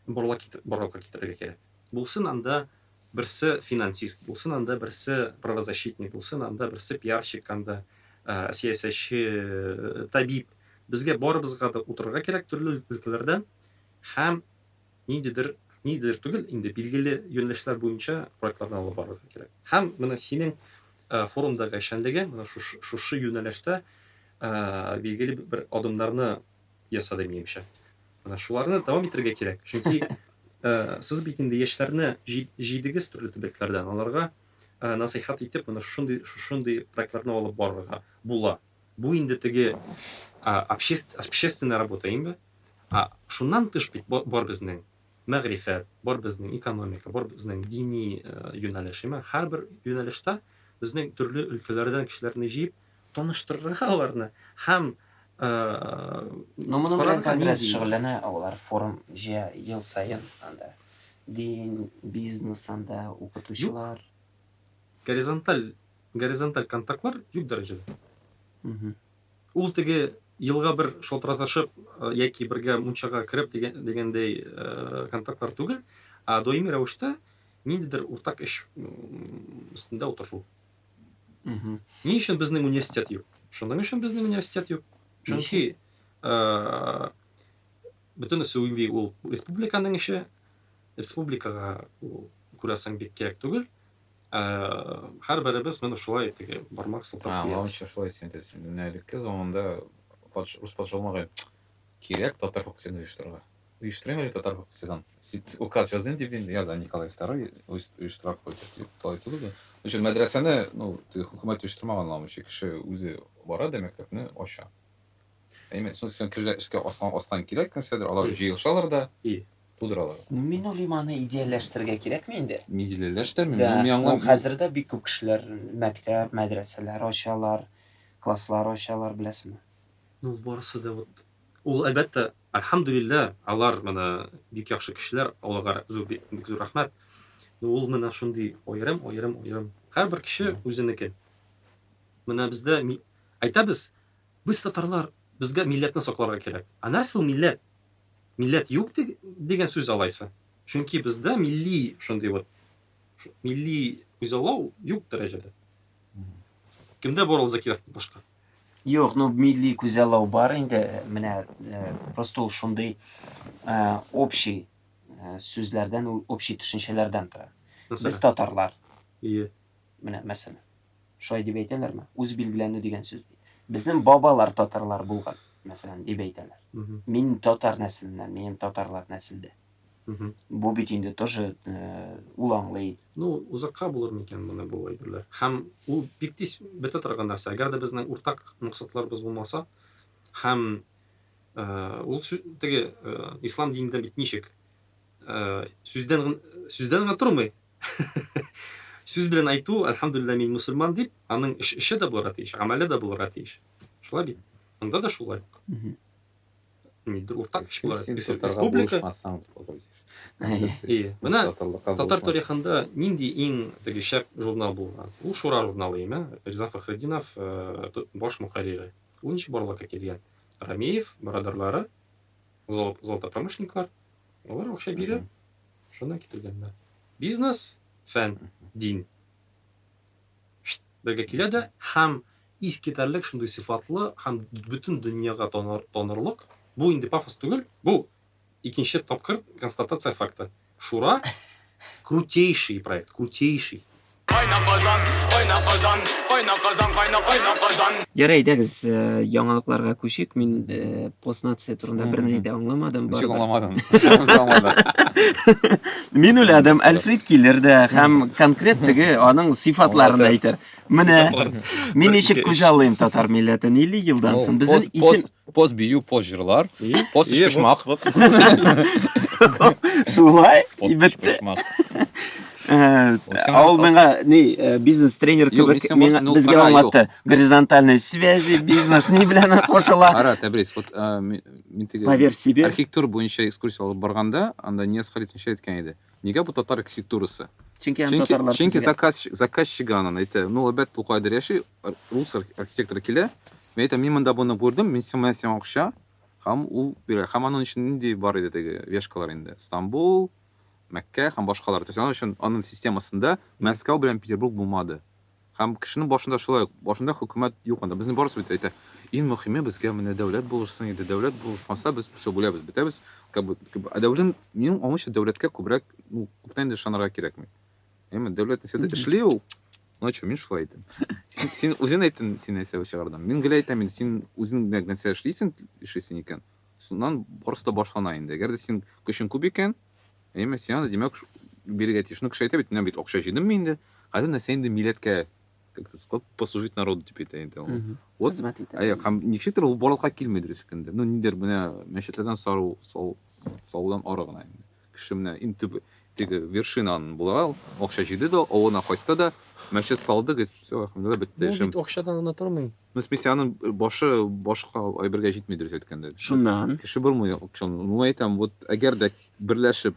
S3: барлыкка китерергә кирәк. Булсын анда берсе финансист, булсын анда берсе правозащитник, булсын анда берсе пиарщик, анда сәясәтче, табиб. Безгә барыбызга да утырырга кирәк төрле өлкәләрдән һәм ниндидер ниндидер түгел, инде билгеле юнәлешләр буенча проектларны алып барырга кирәк. Һәм менә синең форумдагы эшчәнлегең менә шушы юнәлештә билгеле бер адымнарны ясады, минемчә. Менә шуларны дәвам итәргә кирәк. Чөнки э, сез бит инде яшьләрне җидегез төрле төбәкләрдән, аларга э, насыйхат итеп, менә шушындый шушындый проектларны алып барырга була. Бу инде теге общественная работа инде. А шуннан тыш бит бар безнең мәгърифәт, бар безнең экономика, бар безнең дини э, юнәлеш. Һәрбер юнәлештә безнең төрле өлкәләрдән кешеләрне җыеп, таныштырырга аларны һәм
S1: Но моның белән конгресс шөгыльләнә, алар форум җыя ел саен анда. Дин, бизнес анда, укытучылар. Горизонталь,
S3: горизонталь контактлар юк дәрәҗәдә.
S1: Ул теге
S3: елга бер шалтыратышып яки бергә мунчага кереп дигәндәй контактлар түгел, ә даими рәвештә ниндидер уртак эш өстендә утыру.
S1: Ни өчен безнең
S3: университет юк? Шуның өчен безнең университет юк. Чөнки э, бөтенесе уйлый ул республиканың эше, республикага ул күрәсең бик кирәк түгел. Ә, һәрберебез менә шулай теге бармак сылтап Ә, куябыз. лауча шулай син әйтәсең.
S2: Менә элекке заманда патш, рус патшалыгы кирәк татар факультетын оештырырга. Оештырыйм әле татар факультетын. Бит указ языйм дип инде, яза Николай II оештыра факультет дип талай түгел дә. Өчен мәдрәсәне, ну, теге хөкүмәт оештырмаган ламычы кеше үзе бара да мәктәпне ача. Әйме, соң син кешеләр эшкә астан астан кирәк нәрсәдер, алар җыелышалар да И. тудыралар. Ну, мин уйлыйм,
S1: аны идеальләштерергә кирәкме инде? Мин идеальләштермим, Да, ну,
S2: мин аңлам. ул хәзер
S1: дә бик
S2: күп кешеләр
S1: мәктәп, мәдрәсәләр ачалар, класслар ачалар, беләсеңме? Ну, ул барысы
S3: да вот Ул, әлбәттә, Әлхәмдүлилләһ, алар менә бик яхшы кешеләр, Аллага зур, бик зур рәхмәт. Но ул менә шундый аерым, аерым, аерым. Һәрбер кеше үзенеке. Менә бездә әйтәбез, без татарлар, безгә милләтне сакларга кирәк. Ә нәрсә ул милләт? Милләт юк дигән сүз алайса. Чөнки бездә милли шундый вот милли күзаллау юк дәрәҗәдә. Кемдә бар ул Закиров башка? Юк, ну
S1: милли күзаллау бар инде, менә просто ул шундый общий сүзләрдән, общий төшенчәләрдән тора. Без татарлар. Ие.
S3: Менә мәсәлән.
S1: Шулай дип әйтәләрме? Үз билгеләнү дигән сүз. Безнең бабалар татарлар булган, мәсәлән, дип әйтәләр. Мин татар нәселеннән, минем татарлар нәселдә. Мгм. Бу бит инде тоже э, ул аңлый. Ну, узакка булыр
S3: микән моны бу әйберләр? Һәм ул бик тиз бетә торган нәрсә. Әгәр дә безнең уртак максатларыбыз булмаса, һәм э, ул сү- теге э, ислам динендә бит ничек? Э, сүздән гын- сүздән генә тормый. Сүз белән әйтү, әлхәмдулилла мин мусульман дип, аның эш, эше дә булырга тиеш, гамәле дә булырга тиеш. Шулай бит. Анда да шулай. Мгм. Татар тарихында нинди иң теге шәп журнал булган? Ул Шура журналы име? Риза Фәхреддинов баш мөхәррире. Ул ничек барлыкка килгән? Рамеев, барадарлары, золотопромышленниклар, алар акча бирә, шуннан китергәннәр. Бизнес, фән, дин. Бергә килә дә һәм Искитәрлек шундый сыйфатлы һәм бөтен дөньяга танырлык, бу инде пафос түгел, бу, икенче тапкыр констатация факты, Шура, крутейший проект, крутейший! Кайна Казан, кайна Казан, кайна Казан,
S1: кайна, кайна Казан. Ярый, әйдәгез, яңалыкларга күчик. Мин постнация турында берни дә аңламадым. Ничек аңламадың? Мин уйладым, Әлфрид килер дә һәм конкрет теге аның сыйфатларын әйтер. Менә мин ничек күзаллыйм татар милләтен 50 елдан соң. Безнең исем поз бию, поз
S2: җырлар, поз ишпишмак.
S1: Шулай, бетте. Э, Ау миңа ни э, бизнес тренер кебек миңа ну, безгә аңлатты. Горизонтальные связи, бизнес ни белән кушыла. Ара, Тәбрис, вот э,
S2: мин теге Поверь себе. Архитектур
S1: буенча экскурсия
S2: алып барганда, анда Нияз Халит ничә әйткән иде. Нигә бу татар архитектурасы? Чөнки аны татарлар
S1: Чөнки төзегән. заказ,
S2: заказчигы анын әйтә, ну, әлбәттә, ул кайдыр яши, рус архитекторы килә, мин әйтәм, мин монда буны күрдем, мин сиңа менә сиңа акча, һәм ул бирә. Һәм анын өчен нинди бар иде теге вешкалар инде, Стамбул, Мәккә һәм башкалар. То есть анын өчен, анын системасында Мәскәү белән Петербург булмады. Һәм кешенең башында шулай ук, башында хөкүмәт юк анда. Безнең барысы бит әйтә, иң мөхиме безгә менә дәүләт булышсын иде, дәүләт булышмаса без все бүләбез, бетәбез. Как бы, как бы, ә дәүлән, минем аңымча дәүләткә күбрәк, ну, күптән инде ышанырга кирәкми. Әйме, дәүләт нәрсә дә эшли ул. Ну чё, мин шулай әйтәм. Син, син үзең әйттең, син нәрсә чыгардың. Мин гел әйтәм инде, син үзең нәкъ нәрсә эшлисең, эшлисең икән, шуннан барысы да башлана инде. Әгәр дә синең көчең күп икән, Әйме, сиңа да, димәк, бирергә тиеш. Ну, кеше әйтә бит, менә бит акча җыйдыммы инде, хәзер нәрсә инде милләткә послужить народу дип әйтә инде ул. Вот, хезмәт итә. Әйе, һәм ничектер ул барлыкка килми дөрес икәндә. Ну, нидер менә мәчетләрдән сару, сал, салудан ары гына инде. Кеше менә иң төп теге вершинаны була, акча җыйды да, авылына кайтты да, мәчет салды, говорит, все, бетте эшем. Ну, бит акчадан гына тормый.
S3: Ну, в смысле, аның
S2: башы башка әйбергә җитми дөрес әйткәндә. Шуннан. Кеше булмый акчан. Ну, әйтәм,
S1: вот
S2: әгәр дә берләшеп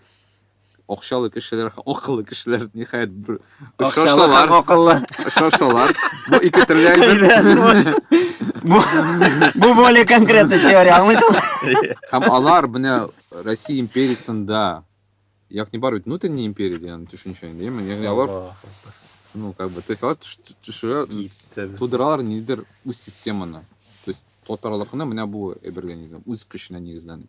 S2: акчалы кешеләр, акыллы кешеләр ниһаять бер очрашсалар,
S1: акыллы очрашсалар,
S2: бу ике төрле әйбер. Бу
S1: бу более конкретный теория, аңлыйсың? Һәм алар
S2: менә Россия империясендә ягъни бар бит внутренняя империя дигән төшенчә инде яме ягъни алар ну как бы то есть алар төшерә тудыралар нидер үз системаны то есть татарлыкны менә бу эберлянизм үз көченә нигезләнеп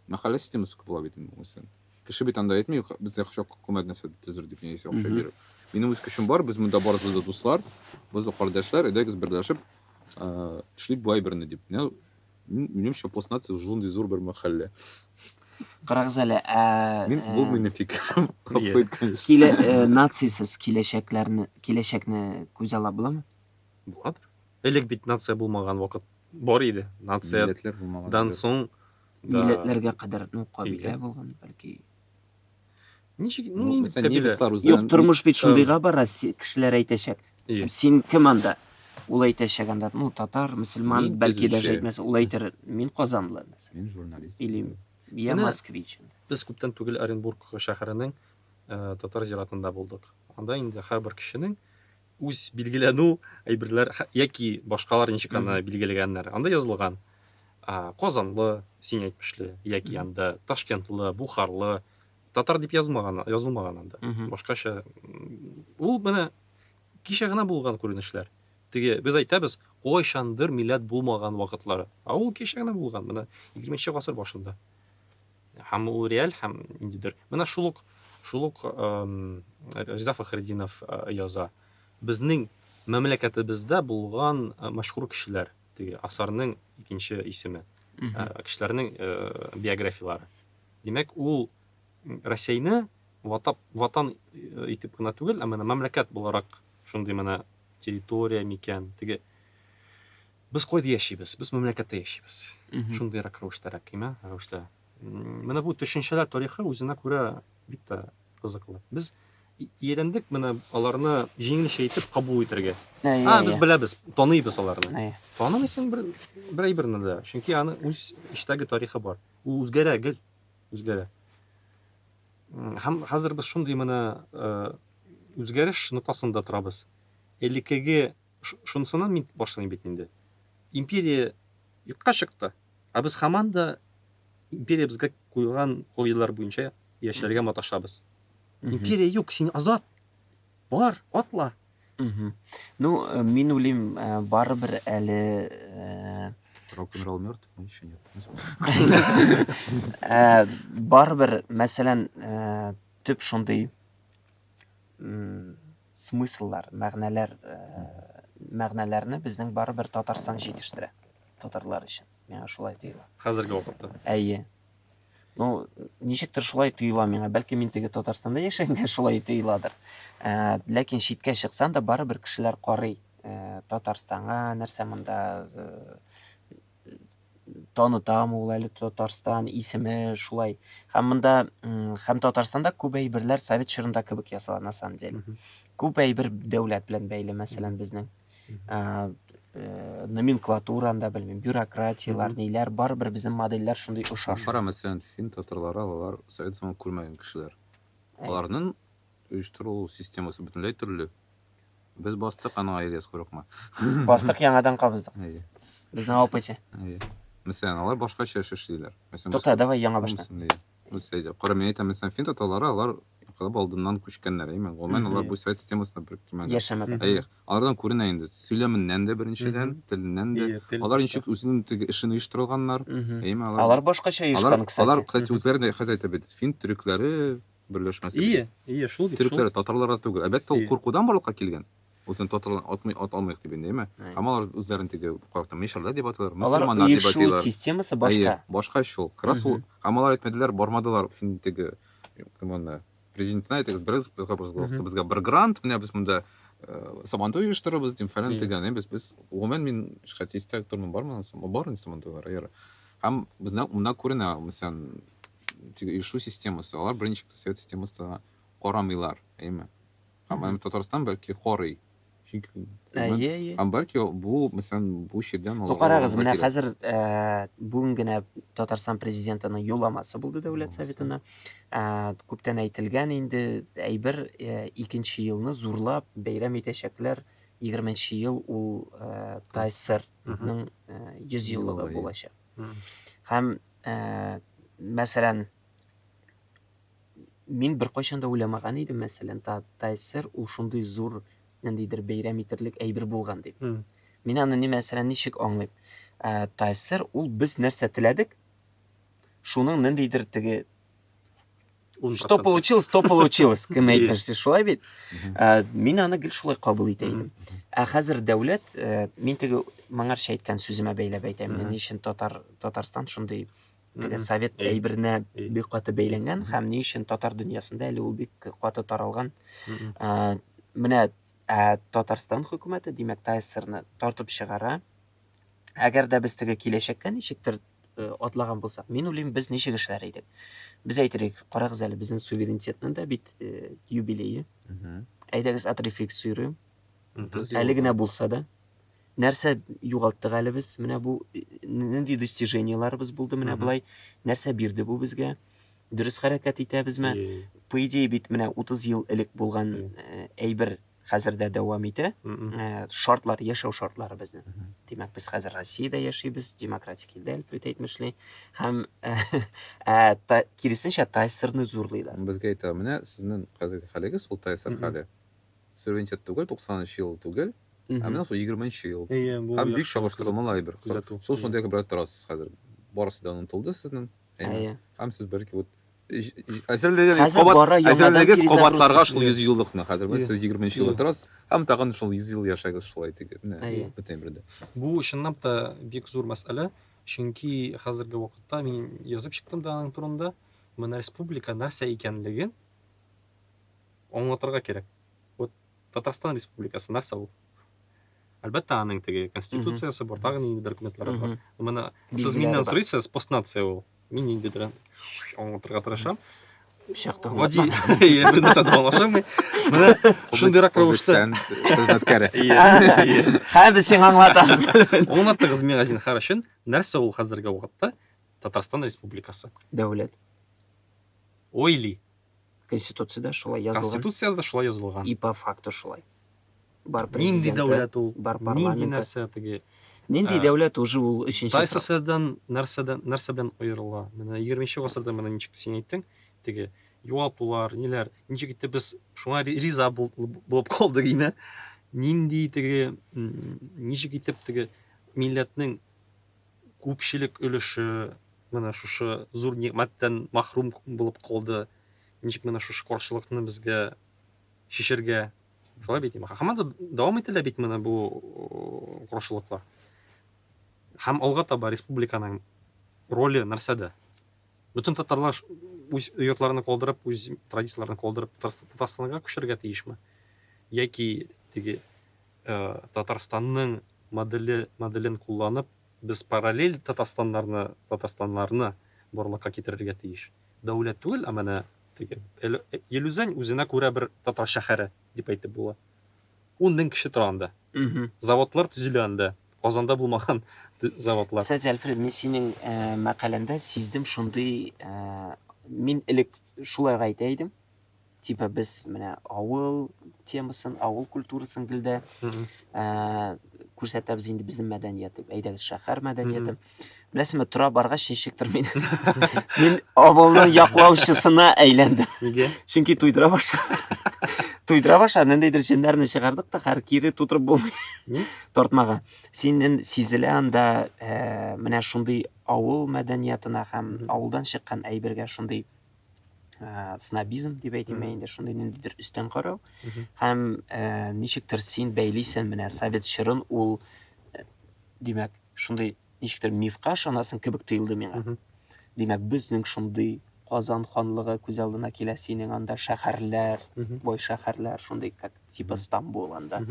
S2: мәхәллә системасы күп була бит инде уңайсыздан кеше бит анда әйтми безгә хачак хөкүмәт нәрсә төзер дип яисә акча биреп минем үз көчем бар без монда барыбыз да дуслар без кардәшләр әйдәгез берләшеп эшлик бу әйберне дип Мин, минемчә, Постнаци шундый зур бер мәхәллә.
S1: Карагыз әле, ә... Мин, бу ә, минем
S2: фикерем. Гафу конечно. Килә, ә, нацисыз
S1: киләчәкләрне, киләчәкне күз ала буламы? Буладыр.
S3: Элек бит нация булмаган вакыт бар иде. Нация Милләтләр булмаган.
S2: Дан соң да...
S3: милләтләргә
S1: кадәр ну кабилә булган бәлки
S3: Ничек, ну, Ну, инде Мәсәлән, кабилә.
S2: немецлар Юк, үзләрен
S3: тормыш бит
S2: шундыйга бара,
S1: се- кешеләр әйтәчәк. Ие. Син кем
S3: анда?
S1: Ул әйтәчәк анда, ну, татар, мөселман, Мин бәлки төзүче. даже әйтмәс,
S2: ул
S1: әйтер, мин казанлы, мәсәлән, Мин журналист. или я
S2: Менә-
S1: москвич.
S3: Без күптән
S1: түгел
S3: Оренбург шәһәренең э, татар зиратында булдык. Анда инде һәрбер кешенең үз билгеләнү әйберләр хә- яки башкалар ничек аны билгеләгәннәр. Анда язылган а, Казанлы, син әйтмешле, яки Мгм. анда Ташкентлы, Бухарлы, Татар дип язмаган, язылмаган анда. Башкача. Ул менә кичә генә булган күренешләр. Теге без әйтәбез, кайчандыр милләт булмаган вакытлары. А ул кичә генә булган, менә 20 нче гасыр башында. Һәм ул реаль һәм ниндидер. Менә шул ук шул ук Риза Фахреддинов яза. Безнең мәмләкәтебездә булган мәшһүр кешеләр, теге асарның икенче исеме. Кешеләрнең биографияләре. Димәк, ул Рәсәйне ватап, ватан итеп кына түгел, ә менә мәмләкәт буларак шундый менә территория микән, теге Без кайда яшибез? Без мәмләкәттә яшибез. Шундыйрак рәвештәрәк, имә, рәвештә. Менә бу төшенчәләр тарихы үзенә күрә бик тә кызыклы. Без иелендек менә аларны җиңелчә итеп кабул итәргә. А, без беләбез, таныйбыз аларны. Танымыйсың бер бер әйберне дә, чөнки аны үз эчтәге тарихы бар. Ул үзгәрә гел, үзгәрә. Һәм хәзер без шундый менә э, үзгәреш ноктасында торабыз. Элеккеге шунысыннан мин башлыйм бит инде. Империя юкка чыкты, ә без һаман да империя безгә куйган кагыйдәләр буенча яшәргә маташабыз. Империя юк, син азат. Бар, атла. Угу. Ну,
S1: э, мин уйлыйм, э, барыбер әле э, Рок-н-ролл
S2: мертв, мы еще нет. Э,
S1: барыбер, мәсәлән, э, төп шундый смысллар, мәгънәләр, э, мәгънәләрне безнең барыбер Татарстан җитештерә. Татарлар өчен. Миңа шулай тоела. Хәзерге вакытта.
S3: Әйе.
S1: Ну, ничектер шулай тоела миңа. Бәлки мин теге Татарстанда яшәгәнгә шулай тоеладыр. Ә, ләкин читкә чыксаң да барыбер кешеләр карый. Ә, Татарстанга нәрсә монда ә, танытам ул әле Татарстан исеме шулай. Һәм монда һәм Татарстанда күп әйберләр совет чорында кебек ясала на самом деле. Күп әйбер дәүләт белән бәйле, мәсәлән, безнең. ә, э, номенклатураны да белмим, бюрократияләр, ниләр, барыбер безнең модельләр шундый ошаш. Кара, мәсәлән, фин
S2: татарлары, алар совет заманын күрмәгән кешеләр. Әй. Аларның оештыру системасы бөтенләй төрле. Без бастык, аның аеры яз курыкма. Бастык яңадан
S1: кабыздык. Әйе, Безнең опыте. әйе. Мәсәлән,
S2: алар башкача эш эшлиләр. Мәсәлән, Тукта, давай яңа
S1: баштан. Әйе. үсә иде. Кара,
S2: мин әйтәм, мәсәлән, фин татарлары, алар инкыйлаб алдыннан күчкәннәр, әйеме? Гомумән, алар бу совет системасында бер кимәлдә. Яшәмәгән. Әйе. Алардан
S1: күренә инде,
S2: сөйләменнән дә, беренчедән, теленнән дә. Алар ничек үзенең теге эшен оештырганнар, әйеме? Алар. Алар башкача оешкан,
S1: кстати. Алар, кстати, үзләре дә
S2: хәтта әйтә
S1: бит,
S2: фин төрекләре берләшмәсе. Ие, ие, шул бит, шул. Төрекләре
S3: татарларга түгел.
S2: Әлбәттә, ул куркудан барлыкка килгән. Үзен татарларны атмый ат алмыйк дип инде, әйме? Һәм алар үзләрен теге картны мишәрләр дип атыйлар, мөселманнар дип әйтиләр. Алар ир-шул системасы башка.
S1: Әйе, башка ич ул. Красу,
S2: һәм алар әйтмәделәр, бармадылар фин теге, кем аны, президентына әйтегез, берегез безгә, пожалуйста, безгә бер грант, менә без монда сабантуй оештырырбыз, дим, фәлән тегән, без, без, гомумән мин шәхси истә тормын, бармы, бар инде сабантуйлар, әйе. Һәм безнә монда күренә, мәсәлән, теге ишу системасы, алар беренче совет системасына карамыйлар, әйме? Һәм аны Татарстан бәлки карый. Чөнки күбен- Әйе, әйе.
S1: Һәм бәлки бу,
S2: мәсәлән, бу чирдән Ну, аларга карагыз, менә вакыйга. хәзер
S1: э, бүген генә Татарстан президентының юлламасы булды Дәүләт Юлламасы. Советына. Э, Күптән әйтелгән инде әйбер, э, икенче елны зурлап бәйрәм итәчәкләр. 20 нче ел ул э, ТАССРның э, 100 еллыгы Еллыгы. булачак. Мгм. Һәм, э, мәсәлән, Мин беркайчан да уйламаган идем, мәсәлән, та, ТСР ул шундый зур ниндидер бәйрәм итерлек әйбер булган дип. Mm. Мин аны ни мәсәлән ничек аңлыйм? Ә, ТСР ул без нәрсә теләдек? Шуның ниндидер теге Что получилось, то получилось, кем әйтмешсе, шулай бит. Ә, мин аны гел шулай кабул итә идем. Ә хәзер дәүләт, ә, мин теге моңарча әйткән сүземә бәйләп әйтәм, ни өчен татар Татарстан шундый теге совет әйберенә бик каты бәйләнгән һәм ни өчен татар дөньясында әле ул бик каты таралган менә татарстан хөкүмәте димәк тайсерны тартып чыгара әгәр дә без теге киләчәккә ничектер э, атлаган булсак мин уйлыйм без ничек эшләр идек без әйтерлек карагыз әле безнең суверенитетның да бит э, юбилее әйдәгез отрефиксируем әле генә булса да нәрсә югалттык әле без, менә бу нинди достижениеларыбыз булды, менә болай, нәрсә бирде бу безгә, дөрес хәрәкәт итәбезме? По идее бит менә 30 ел элек булган э, әйбер хәзер дә дәвам итә. Э, шартлар, яшәү шартлары безнең. Димәк, без хәзер Россиядә яшибез, демократик илдә Әлфрит әйтмешли, һәм э, ә, та, киресенчә Тайсерны зурлыйлар. Безгә әйтә, менә
S2: сезнең хәзерге хәлегез ул Тайсер хәле. суверенитет түгел, 90 нчы ел түгел, ә менә шул 20 нчы ел. Һәм бик чагыштырмалы әйбер. Шул шундый әйбер торасыз хәзер. Барысы да онытылды сезнең. Әйе. Һәм сез бер кебек әзерлегегез кабат әзерлегегез кабатларга шул 100 еллыкны хәзер без сез 20 нчы елда торасыз һәм тагын шул 100 ел яшәгез шулай итегез менә бөтен әйбердә бу чынлап та
S3: бик зур мәсьәлә чөнки хәзерге вакытта мин язып чыктым да аның турында менә республика нәрсә икәнлеген Аңлатырга кирәк. Вот Татарстан Республикасы нәрсә ул? Әлбәттә, аның теге конституциясе бар, тагын инде документлары бар. Менә сез миннән сорыйсыз, постнация ул. Мин инде дөрән аңлатырга тырышам. Шәхтә гади. Иә, бер нәрсә дә аңлашылмый. Менә шундыйрак рәвештә. Хезмәткәре.
S1: Һә без сиңа аңлатабыз. Аңлатыгыз миңа
S3: зинхар өчен, нәрсә ул хәзерге вакытта Татарстан Республикасы? Дәүләт. Ойли.
S1: Конституциядә шулай язылган. Конституциядә дә шулай язылган.
S3: И по факту шулай.
S1: Бар президенты, Нинди дәүләт
S3: ул? Бар парламенты.
S1: Нинди
S3: нәрсә
S1: теге?
S3: Нинди дәүләт
S1: уже ул өченче сорау. Тайсасадан
S3: нәрсәдән нәрсә белән аерыла? Менә 20 гасырда менә ничек син әйттең, теге югалтулар, ниләр, ничек итеп без шуңа риза булып калдык име? Нинди теге ничек итеп теге милләтнең күпчелек өлеше менә шушы зур нигъмәттән мәхрүм булып калды. Ничек менә шушы каршылыкны безгә чишергә? Шулай бит, һаман да дәвам ителә бит менә бу каршылыклар. Һәм алга таба республиканың роле нәрсәдә? Бөтен татарлар үз йортларын калдырып, үз традицияләрен калдырып Татарстанга күчәргә тиешме? Яки теге Татарстанның моделе моделен кулланып, без параллель Татарстаннарны Татарстаннарны барлыкка китерергә тиеш. Дәүләт түгел, ә менә теге Эль Елүзән үзенә күрә бер татар шәһәре дип әйтеп була. Ун мең кеше тора анда. Заводлар төзелә анда. Казанда булмаган заводлар. Кстати, Альфред, мин
S1: синең мәкаләңдә сиздем шундый, мин элек шулай гайтә идем, типа без менә авыл темасын, авыл культурасын гел дә күрсәтәбез инде безнең мәдәниятне. Әйдәгез, шәһәр мәдәнияте. Беләсезме, тора баргач ничектер мин мин авылның яклаучысына әйләндем. Нигә? Чөнки
S3: туйдыра башлады.
S1: Туйдыра башлады, ниндидер җеннәрне чыгардык та, хәр кире тутырып булмый. Ни? Тартмага. Синен сизелә анда менә шундый авыл мәдәниятына һәм авылдан чыккан әйбергә шундый ә, снобизм дип әйтеме инде шундый ниндидер өстән карау һәм ә, ничектер син бәйлисең менә совет чорын ул ә, димәк шундый ничектер мифка ышанасың кебек тоелды миңа димәк безнең шундый казан ханлыгы күз алдына килә синең анда шәһәрләр бай шәһәрләр шундый как типа стамбул анда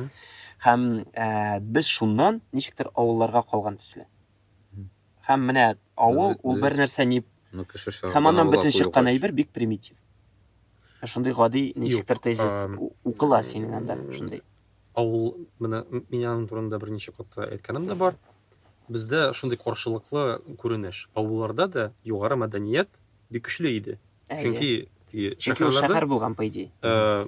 S1: һәм ә, без шуннан ничектер авылларга калган төсле Һәм менә авыл, ул бер нәрсә ни... Ну, кеше шагыйрь. Һәм аннан бөтен чыккан әйбер бик примитив. Ә шундый гади ничектер тезис укыла синең анда, шундый. Авыл,
S3: менә мин аның турында берничә катта әйткәнем дә бар. Бездә шундый каршылыклы күренеш. Авылларда да югары мәдәният бик көчле иде. Чөнки Чөнки ул
S1: шәһәр булган, по идее. Э,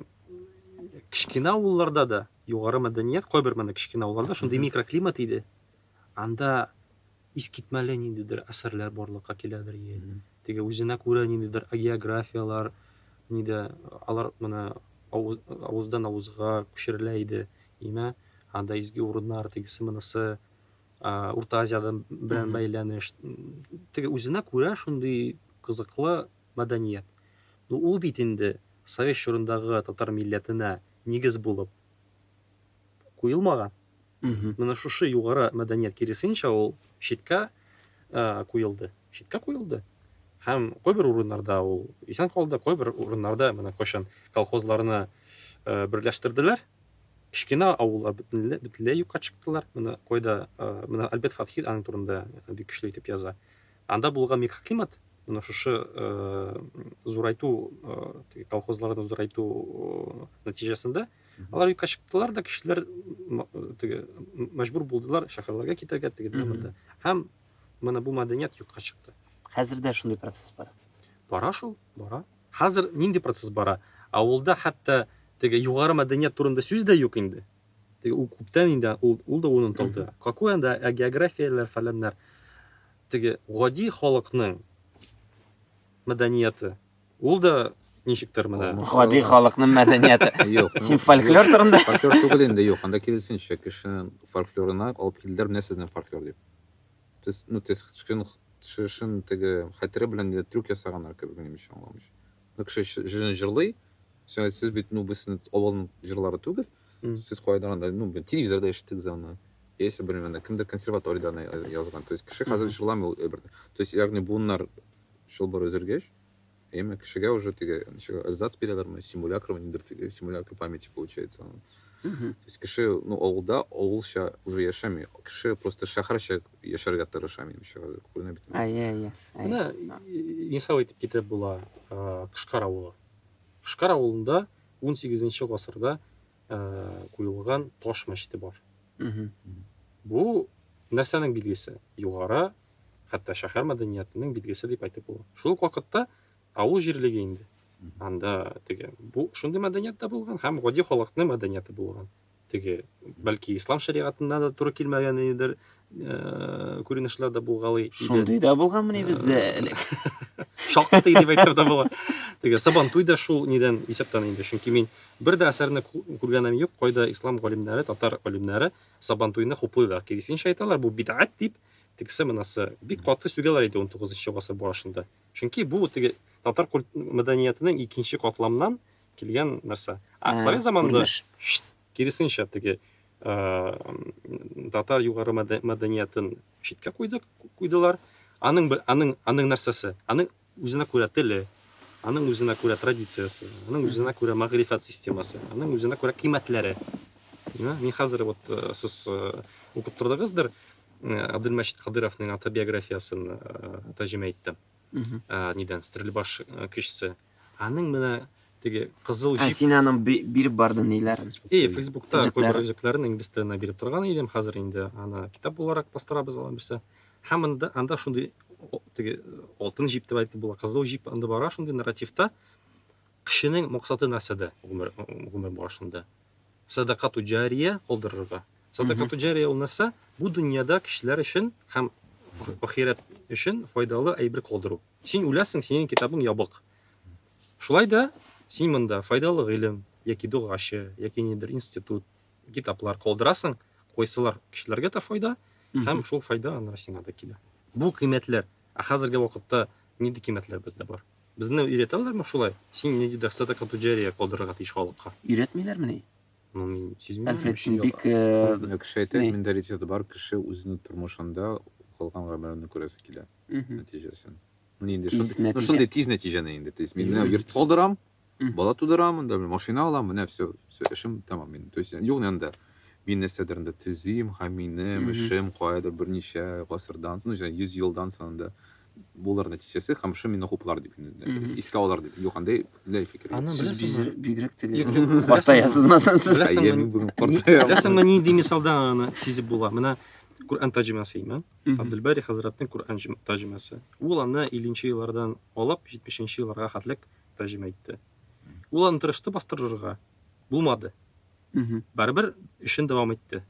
S3: кечкенә авылларда да югары мәдәният, кайбер менә кечкенә авылларда шундый микроклимат иде. Анда искитмәле ниндидер әсәрләр барлыкка киләдер, е, теге үзенә күрә ниндидер агеографиялар, нидә, алар менә авыз, авыздан авызга күчерелә иде, имә, анда изге урыннар, тегесе, монысы, а, Урта Азиядән белән бәйләнеш, теге үзенә күрә шундый кызыклы мәдәният. Ну, ул бит инде совет чорындагы татар милләтенә нигез булып куелмаган. Менә шушы югары мәдәният киресенчә ул читкә куелды. Читкә куелды. Һәм кайбер урыннарда ул исән калды, кайбер урыннарда менә кайчан колхозларны берләштерделәр, кечкенә авыллар бөтенләй бөтенләй юкка чыктылар. Менә кайда менә Альберт Фатхи аның турында бик көчле итеп яза. Анда булган микроклимат менә шушы зурайту колхозларны зурайту нәтиҗәсендә Алар юкка чыктылар да, кешеләр теге мәҗбүр булдылар шәһәрләргә китәргә теге монда. Һәм менә бу мәдәният юкка чыкты. Хәзер дә шундый
S1: процесс бара. Бара шул,
S3: бара. Хәзер нинди процесс бара? Авылда хәтта теге югары мәдәният турында сүз дә юк инде. Теге ул күптән инде ул, ул да онытылды. Какой анда ә географияләр фәләннәр. Теге гади халыкның мәдәнияты Ул да ничектер менә. Гади халыкның
S1: мәдәнияте. Юк. Син фольклор
S2: турында.
S1: Фольклор түгел инде, юк.
S2: Анда киресенчә, кешенең фольклорына алып килделәр, менә сезнең фольклор дип. Тез, ну, тез, шын, шын теге хәтере белән дә трюк ясаганнар кебек, минемчә, аңламыйча. Ну, кеше җырын җырлый, сез бит, ну, без сезнең авылның җырлары түгел, сез кайдан анда, ну, телевизорда ишеттегез аны. Яисә, белмим, анда кемдер консерваториядә аны язган. То есть, кеше хәзер җырламый ул әйберне. То есть, ягъни буыннар чылбыр өзелгәч, әйеме, кешегә уже теге, ничек, эрзац бирәләрме, симулякрмы, нидер теге, симулякр памяти получается анын. То есть кеше, ну, авылда авылча уже яшәми, кеше просто шәһәрчә яшәргә тырыша, минемчә, хәзер күренә бит. Әйе, әйе. Менә
S3: мисал итеп китереп була, Кышкар авылы. Кышкар авылында 18 нче гасырда куелган таш мәчете бар. Бу нәрсәнең билгесе? Югары хәтта шәһәр мәдәниятының билгесе дип әйтеп була. Шул ук вакытта авыл җирлеге инде. Анда теге бу шундый мәдәният та булган һәм гади халыкның мәдәнияте булган. Теге бәлки ислам шәригатына да туры килмәгән идер э, күренешләр дә булгалый иде. Шундый да булганмы
S1: ни бездә э, әле? Шактый
S3: дип әйтеп дә була. Теге Сабантуй да шул нидән исәптән инде, чөнки мин бер дә әсәрне күргәнем юк, кайда ислам галимнәре, татар галимнәре Сабантуйны хуплыйлар. Киресенчә әйтәләр, бу бидгать дип тегесе мынасы бик каты сүгәләр иде 19 гасыр башында. Чөнки бу теге татар культ мәдәниятенең икенче катламнан килгән нәрсә. А совет заманында киресенчә теге татар югары мәдәниятен читкә куйдык, куйдылар. Аның аның аның нәрсәсе? Аның Үзенә күрә теле, аның үзенә күрә традициясе, аның үзенә күрә мәгърифәт системасы, аның үзенә күрә кыйммәтләре. Мин хәзер вот э, сез э, укып тордыгыздыр э, Абдулмәчит Кадыровның автобиографиясын тәрҗемә иттем. Нидән? Стрельбаш кешесе. Аның менә теге кызыл җип. Ә син аның биреп
S1: бардың ниләрен? И, Фейсбукта күп
S3: үзекләрен инглиз теленә биреп торган идем, хәзер инде аны китап буларак бастырабыз алар берсе. Һәм монда анда шундый теге алтын җип дип әйтеп була, кызыл җип анда бара шундый нарративта. Кешенең максаты нәрсәдә гомер гомер барышында? Садакату җария калдырырга. Садакату җария ул нәрсә? Бу дөньяда кешеләр өчен һәм ахирәт өчен файдалы әйбер калдыру. Син үләсең, синең китабың ябык. Шулай да син монда файдалы гыйлем яки дугачы, яки нидер институт, Китаплар калдырасың, кайсылар кешеләргә дә файда, һәм шул файда аны сиңа да килә. Бу кыйммәтләр. Ә хәзерге вакытта нинди кыйммәтләр бездә бар? Безне өйрәтәләрме шулай? Син ниндидер сәдака туҗария калдырырга тиеш халыкка. Өйрәтмиләрмени?
S1: Ну, мин
S3: сизмим. Альфред, син бик...
S1: Менә кеше әйтә,
S2: менталитеты бар, кеше үзенең тормышында кылган гамәленнән күрәсе килә нәтиҗәсен. Менә инде шундый тиз нәтиҗәне инде. То есть мин менә йорт салдырам, Бала тудырам, анда машина алам, менә все, все, эшем тәмам минем. То есть юк анда мин нәрсәдер анда төзим, һәм минем эшем каядыр берничә гасырдан, ну, 100 елдан соң анда булыр нәтиҗәсе һәм шул мине хуплар дип искә алар дип юк андай ләй фикер сез
S3: бигрәк
S1: теләгез
S3: картаясызмы
S2: сез беләсеңме нинди мисалда
S3: аны сизеп була менә Коръән тәрҗемәсе имә Абделбари хәзрәтнең Коръән тәрҗемәсе ул аны 50 нче еллардан алып 70 нче елларга хәтлек тәрҗемә итте. Ул аны тырышты бастырырга, булмады. Барыбер эшен дәвам итте.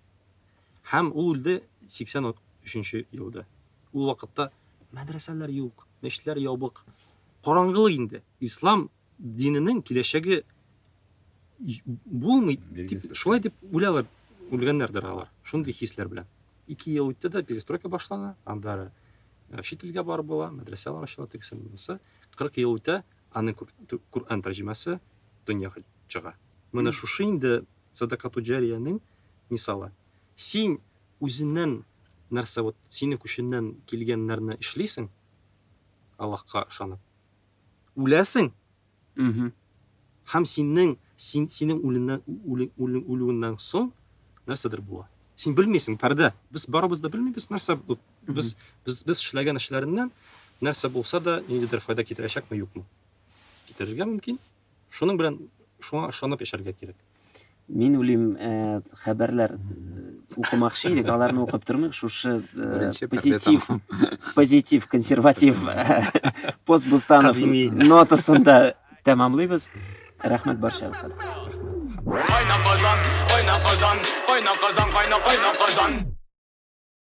S3: Һәм ул үлде 83-нче елда. Ул вакытта мәдрәсәләр юк, мәчетләр ябык. Караңгылык инде. Ислам диненең киләчәге булмый дип, шулай дип уйлалар, үлгәннәрдер алар. Шундый хисләр белән. Ике ел үтте дә перестройка башлана, андары э, чит илгә барып була, мәдрәсәләр ачыла, тегесе, монысы. Кырык ел үтә, аның күр, Коръән тәрҗемәсе дөньяга чыга. Менә шушы инде садакатуҗариянең мисалы. Син үзеннән нәрсә вот синең көченнән килгән нәрне эшлисең, Аллаһка ышанып, үләсең, Һәм синең, син, синең үлеңнән, үле, үле, үлүеңнән соң нәрсәдер була. Син белмисең, пәрдә. Без барыбыз да белмибез, нәрсә бу. Без, без, без эшләгән эшләреннән нәрсә булса да, ниндидер файда китерәчәкме, юкмы. Китерергә мөмкин. Шуның белән, шуңа ышанып яшәргә кирәк. Мин үлим
S1: хәбәрләр укымакчы идек, аларны укып тормыйк, шушы позитив, позитив, консерватив пост Бустанов нотасында тәмамлыйбыз. Рәхмәт барчагызга.
S4: Кайна казан, кайна
S1: казан,
S4: кайна казан, кайна кайна казан.